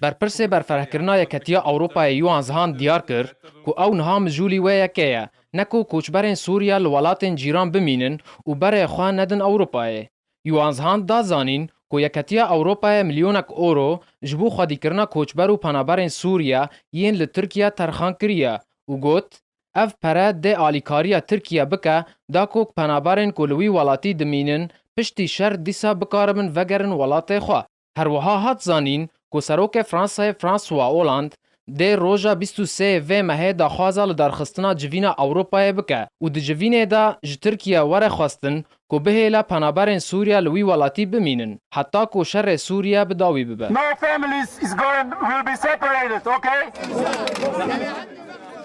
Berpirsê berfirehkirina Yeketiya Ewropayê Yuan Zhan diyar kir ku ew niha mijûlî wê yekê ye ne ku koçberên Sûriye li welatên cîran bimînin û berê xwe nedin Ewropayê. Yuan Zhan da zanîn ku Yeketiya Ewropayê milyonek oro ji bo xwedîkirina koçber û penaberên Sûriye yên li Tirkiye terxan kiriye û got, Ev pere dê alîkariya Tirkiye bike dako ku penaberên ku li wî welatî dimînin piştî şer dîsa bikaribin vegerin welatê xwe. Her wiha hat zanîn ku Serokê Fransayê François Hollande dê roja bîst û sê yê vê mehê daxwaza lidarxistina civîna Ewropayê bike û di civînê de ji Tirkiye were xwestin ku bihêle penaberên Sûriye li wî welatî bimînin heta ku şerê Sûriye bi dawî bibe.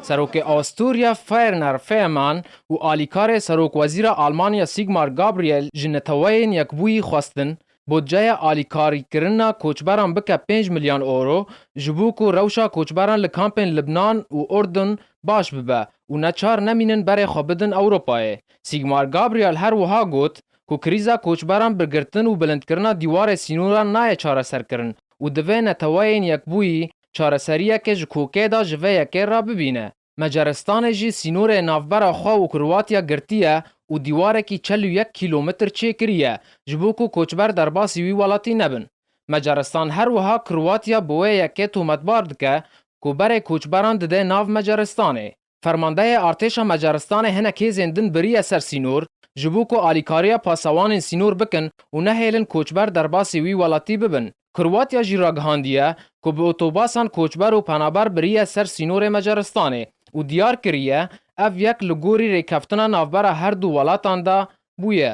Serokê Awusturya Feirner Feeman û alîkarê serokwezîra Almanya Sîgmar Gabriel ji Neteweyên Yekbûyî xwestin Budceya alîkarîkirina koçberan bike pênc milyan euro ji bo ku rewşa koçberan li kampên Libnan û Urdun baş bibe û neçar nemînin berê xwe bidin Ewropayê. Sigmar Gabriel her wiha got ku krîza koçberan bi girtin û bilindkirina dîwarê sînoran nayê çareserkirin û divê neteweyên yekbûyî çareseriyekê ji kokê de ji vê yekê re bibîne. Macaristanê jî sînorê navbera xwe û Kroatiya girtiye û dîwarekî çel û yek kîlometr çê kiriye ji bo ku koçber derbasî wî welatî nebin. Macaristan her wiha Kroatiya bi wê yekê tometbar dike ku berê koçberan dide nav Macaristanê. Fermandeyê artêşa Macaristanê hinek hêzên din biriye ser sînor ji bo ku alîkariya pasewanên sînor bikin û nehêlin koçber derbasî wî welatî bibin. Kroatya jî ragihandiye ku bi otobasan koçber û penaber biriye ser sînorê Macaristanê û diyar kiriye, ev yek li gorî rêkeftina navbera her du welatan de bûye.